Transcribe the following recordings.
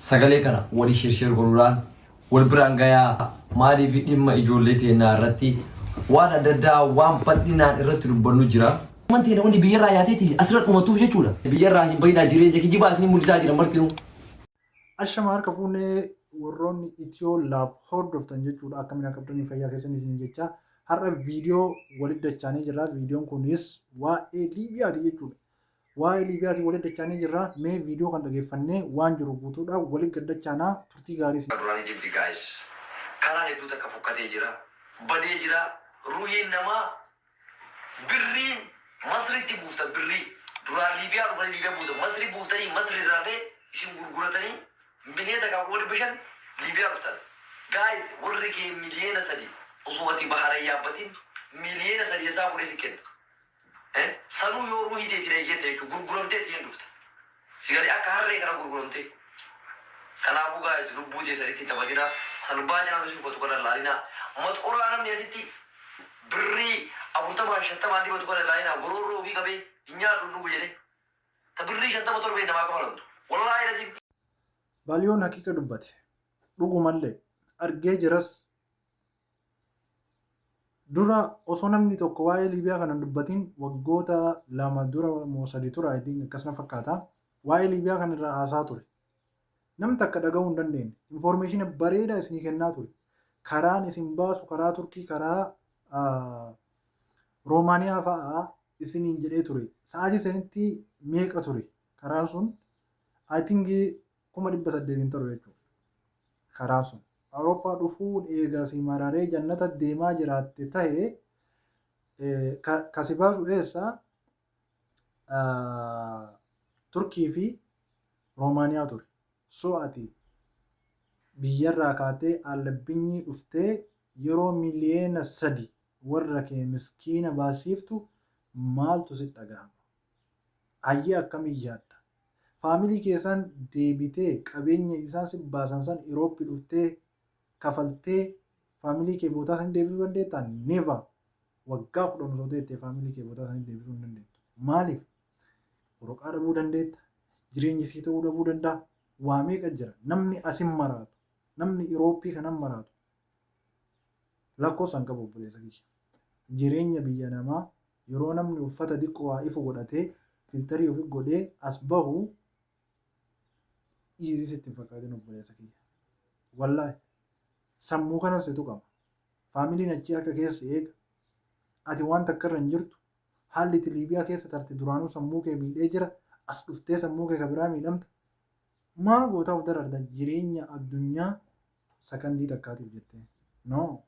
Sagalee kana wali share share godhuudhaan wal biraan gayaa maaliif dhimma ijoollee teennaa irratti waan adda addaa waan bal'inaan irratti dubbannu jira. Ilmaan teena wanni biyyarraa yaateetiin asirra dhumatuuf jechuudha. Biyyarraa hin bayinaa jireenya kijibaa isin mul'isaa jiran martinuu. Ashama harka fuune warroonni Itiyoo laab hordoftan jechuudha akkamiin akka qabdanii fayyaa keessan isin jecha har'a viidiyoo walitti dachaanii jirra viidiyoon kunis waa'ee Liibiyaati jechuudha. Waa'ee Liibiyaatiin walitti dachaanee jirra. Mee viidiyoo kana dhageeffannee waan jiru guutuudhaan walitti gad dachaanaa. Turtii gaarii isiniif. Duraan Egypt guys karaan hedduu takka fokkatee jira badee jira ruhiin namaa birriin masritti buufta birrii duraan liibiyaa dhufanii liibiyaa buuta masri buuftanii masri irraallee isin gurguratanii binee takka kuma dhibba shan liibiyaa dhuftan guys warri kee miliyeena sadi osoo ati bahara yaabbatiin miliyeena sadi esaa fudhee si kenna Ee sanuu yoo ruuhii teetiin eeyyette jechuudha gurguramtee tiin dhufta si galee akka harree kana gurguramtee kanaafuu guys lubbuu teessanitti hin taphatinaa salbaa channel isin uffatu kana hin laalinaa maxoraa namni asitti birrii afurtamaan shantamaan dibatu kana hin laalinaa goroorroo ofii qabee hin nyaadhu hin dhugu jedhee ta birrii shantama torbee namaa kafalamtu wallaahi laziim Baliyoon haqiqa dubbate. Dhugumallee. Argee jiras. Dura osoo namni tokko waa'ee Liibiyaa kana hin dubbatin waggoota lama dura moo sadi tura I think akkas na fakkaata. Waa'ee Liibiyaa kana irraa haasaa ture. Nam takka dhaga'uu hin dandeenye. Infoormeeshina bareedaa isinii kennaa ture. Karaan isin baasu karaa Turkii karaa ah, Roomaaniyaa fa'aa isiniin jedhee ture. Sa'aatii sanitti meeqa ture karaan sun? I think kuma dhibba saddeet hin taru jechuuf karaan sun. Awurooppaa dhufuun eega si mararee jannata deemaa jiraatte tahe ka si baasu eessa Turkii fi Roomaaniyaa ture. So ati biyyarraa kaatee Albinyii dhuftee yeroo miliyeena sadi warra kee miskiina baasiiftu maaltu si dhagahama? Hayyee akkamiin yaadda? Family keessaan deebitee qabeenya isaan sif baasan san Europe dhuftee kafaltee family kee bootaa sanitti deebisuu dandeettaa? Never! Waggaa 10 osoo teettee family kee bootaa sanitti deebisuu hin dandeettu. Maaliif? Woroqaa dhabuu dandeetta, jireenyi sii ta'uu dhabuu danda'a, waa meeqa jira. Namni asin maraatu, namni Europe kanan maraatu Lakkofsa hin qabu obboleessa kiyya. Jireenya biyya namaa yeroo namni uffata diqqo waa ifu godhatee filterii ofi godhee as bahu easy sitti hin fakkaatin obboleessa kiyya. Wallahi sammuu kana situ qaba. Faamiliin achii harka keessa eega. Ati waan takka irra hin jirtu. Haalli itti Liibiyaa keessa tarte duraanuu sammuu kee miidhee jira. As dhuftee sammuu kee ka biraa miidhamta. Maal gootaa of dararda jireenya addunyaa Sakandii takkaatiif jettee. No.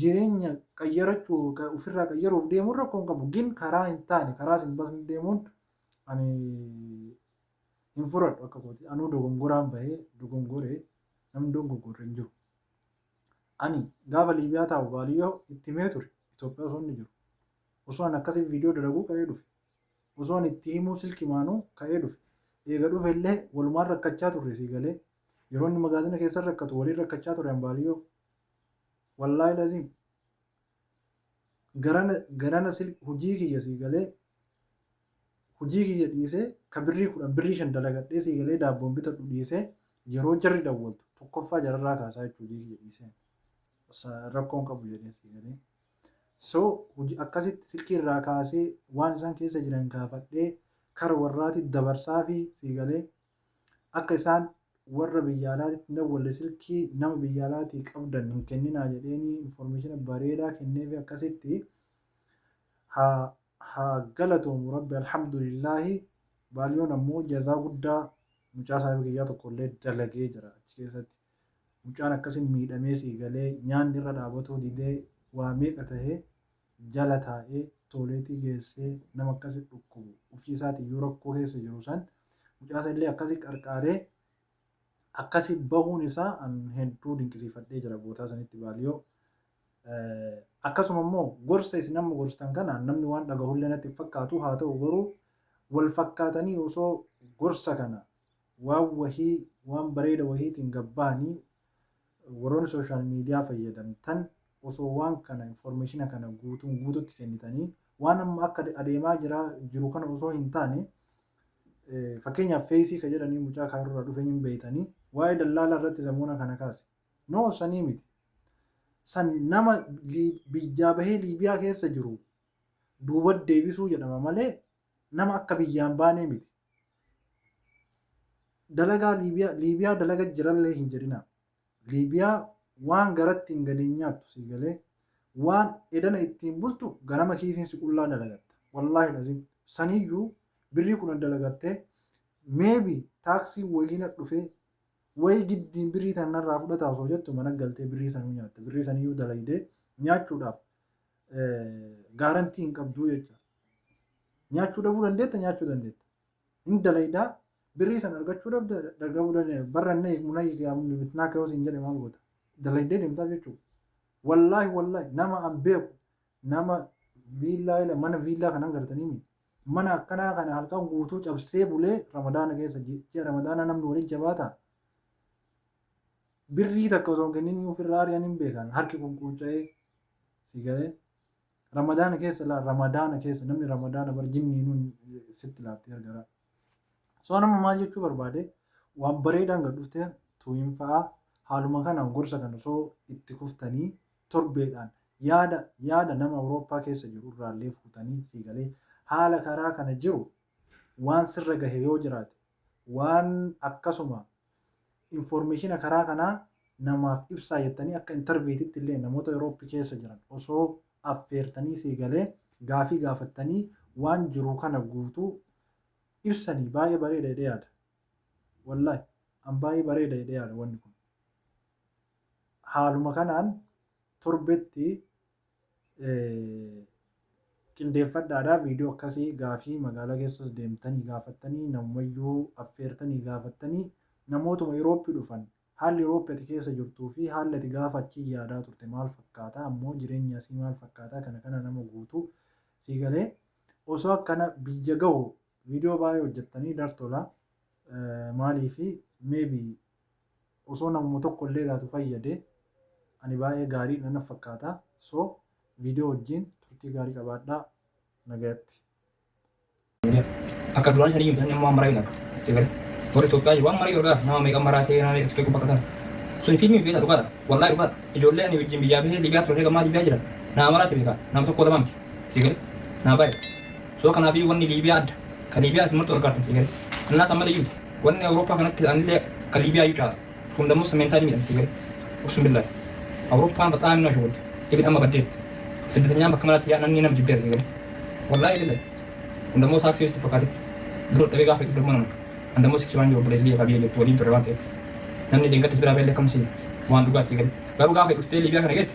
Jireenya qayyarachuu, ofirraa qayyaruuf deemuun rakkoo hin qabu. Gin karaa hin taane, karaa sin basne deemuun ani hin furadhu akka kooti. Anuu dogongoraan bahee dogongore namni dogongorre hin jiru. Ani gaafa Liibiyaa taa'u baaliyyoo itti himee ture Itoophiyaa osoo inni jiru. Osoo ani akkasii viidiyoo dalaguu ka'ee dhufe. Osoo ani itti himuu silki maanuu ka'ee dhufe. Eega dhufe illee walumaan rakkachaa turre sii galee. Yeroo inni magaazina keessa rakkatu waliin rakkachaa ture Ambaaliyyoo. Wallaahi laziim. Garana garana sil hojii kiyya sii galee hojii kiyya dhiisee ka birrii kudhan birrii shan dalagadhee sii galee daabboon bitadhu dhiisee yeroo jarri dawwaltu tokkoffaa jararraa kaasaa jechuu hojii kiyya dhiiseen. Sa- Rakkoon qabu jedhee sii galee. So hojii akkasitti silkii irraa kaasee waan isaan keessa jiran gaafadhee kara warraati dabarsaa fi sii galee Akka isaan warra biyya alaatitti hin dawwalle silkii nama biyya alaatii qabdan hin kenninaa jedheenii information bareedaa kenneefi akkasitti haa haa galatoomu rabbi alhamdulillaahi baaliyoon ammoo jazaa guddaa mucaa saahiba kiyyaa tokkollee dalagee jira achi keessatti mucaan akkasi miidhamee sii galee nyaanni irra dhaabatuu didee waa meeqa tahee jala taa'ee tooleetii geessee nama akkasi dhukkubu ufii isaatiin yoo rakkoo keessa jiru san mucaa san illee akkasi qarqaaree akkasi bahuun isaa an hedduu dinqisiifadhee jira bootaa sanitti baaliyoo akkasuma immoo gorsa isin amma gorstan kana namni waan dhagahullee natti hin fakkaatu haa ta'u garuu wal fakkaatanii osoo gorsa kana waan wahii waan bareeda wahiitiin gabbahanii Warroonni social media fayyadamtan osoo waan kana information kana guutuun guututti kennitanii waan amma akka adeemaa jira jiru kana osoo hin taane fakkeenyaaf feesii ka jedhanii mucaa kaarurraa dhufe hin beeytanii waa'ee dallaalaa irratti samuuna kana kaase no sanii miti san nama biyyaa bahee liibiyaa keessa jiru duuba deebisuu jedhama malee nama akka biyyaan baanee miti Dalagaa Liibiyaa Liibiyaa dalaga jirallee hin jedhinaa. Liibiyaa waan garatti hin gale hin nyaattu sii galee. Waan edana ittiin bultu ganama kiisiin si qullaa dalagatta. Wallaahi lazim saniyyuu birrii kudhan dalagattee maybe taaksiin wayii na dhufee wayii giddiin birrii tan narraa fudhata osoo jettu mana galtee birrii sanuu nyaatta. Birrii saniyyuu dalaydee nyaachuudhaaf gaarantii hin qabduu jechuudha. Nyaachuu dhabuu dandeetta nyaachuu dandeetta. Hin dalaydaa birrii san argachuu dhabda dhabuu dandeetta. Barra na eegmu na eegaa bitnaa kayoo siin jedhe maal goota. Dalaydee deemtaaf jechuudha. Wallaahi wallaahi nama an beeku nama viillaa ila mana viillaa kanan gartanii mi mana akkanaa kana halkan guutuu cabsee bulee ramadaana keessa ji- ji'a ramadaanaa namni waliin jabaata birrii takka osoo hin kenninii ofirraa ari'an hin beekan harki kun quunca'ee si galee Ramadaana keessa laa ramadaana keessa namni ramadaana bar jinniinuun sitti laafti gargara. So nama maal jechuu barbaade waan bareedaan gad dhufte tuuyin fa'aa haaluma kanaan gorsa kana osoo itti kuftanii torbeedhaan yaada yaada nama Awurooppaa keessa jiru irraallee fuutanii sii galee haala karaa kana jiru waan sirra gahe yoo jiraate waan akkasuma Informeeshina karaa kanaa namaaf ibsaa jettanii akka interviititti illee namoota Europe keessa jiran osoo affeertanii sii galee gaafii gaafattanii waan jiruu kana guutuu ibsanii baay'ee bareeda jedhee yaada. Wallahi an baay'ee bareeda jedhee yaada wanni kun. Haaluma kanaan torbetti qindeeffadhaadha viidiyoo akkasii gaafii magaalaa keessas deemtanii gaafattanii namumayyuu affeertanii gaafattanii namootuma Yurooppii dhufan haalli Yurooppii ati keessa jirtuu fi haalli ati gaafa achii yaadaa turte maal fakkaataa ammoo jireenya asii maal fakkaataa kana kana nama guutuu sii galee osoo akkana biyya gahu viidiyoo baay'ee hojjettanii dartola maalii fi meebii osoo namuma tokko illee taatu fayyade ani baay'ee gaarii dha naf fakkaata so video wajjiin turtii gaarii qabaadhaa nagayatti. Akka duraan sanii miti namni amma waan maraa hin argu. Sagalee. Warri Itoophiyaa jiru waan maraa yoo argaa nama meeqa maraatee nama meeqa fixee baqatan. Sun fiilmii beektaa dhugaadha. Wallaahi dhugaadha. Ijoollee ani wajjin biyyaa bahee Libiyaa turee gammaa Libiyaa jira. Nama maraate beekaa. Nama tokko lama miti. Sagalee. Nama baay'ee. So kanaafi wanni Liibiyaa adda. Ka Liibiyaa isin martu gargaartan sii galee. Annaas ammalee iyyuu wanni Awurooppaa kanatti ta'anillee ka Liibiyaa iyyuu caasa. Sun dammoo sameentaa ni miidhan sii galee. Uksun billaahi. Awurooppaan baxaa minna shughul. Ibid amma baddee. Siddatanyaan bakka maraatti yaa'an anni nama jibbeera sii galee. Wallaahi billaahi. Kun dammoo saaksii itti fakkaate. Dura dhabee gaafa itti dammoo nama. An dammoo siksii waan jiru obboleessi biyya biyya jirtu waliin ture waan ta'eef. Namni deengaddas biraa beellee kamsi waan dhugaa sii galee. Garuu gaafa dhuftee Liibiyaa kana geette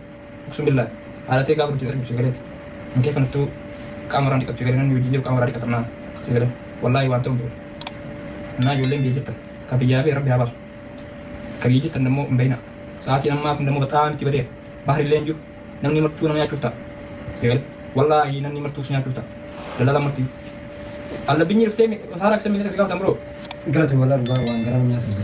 Uksuu billaa. Haalatee gaafa nuti darbu sigalee. Hin keeffanattuu qaama irraa dhiqatu sigalee namni wajjin jiru qaama irraa dhiqatannaa sigalee. Wallaahi waan ta'u hin jiru. Innaa ijoolleen biyya jirtan ka biyyaa bee rabbi haa baasu. Ka biyya jirtan immoo hin bahina. Sa'aatiin ammaa kun immoo baxaa miti badeera. Bahri illee hin jiru. Namni martuu nama nyaachuuf ta'a. Sigalee. Wallaahi namni martuu si nyaachuuf ta'a. Dallala martii. Alla binyi dhuftee saaraa kisan miilata si gaafatan biroo. Galata walaa dhugaa waan garaa nyaatan.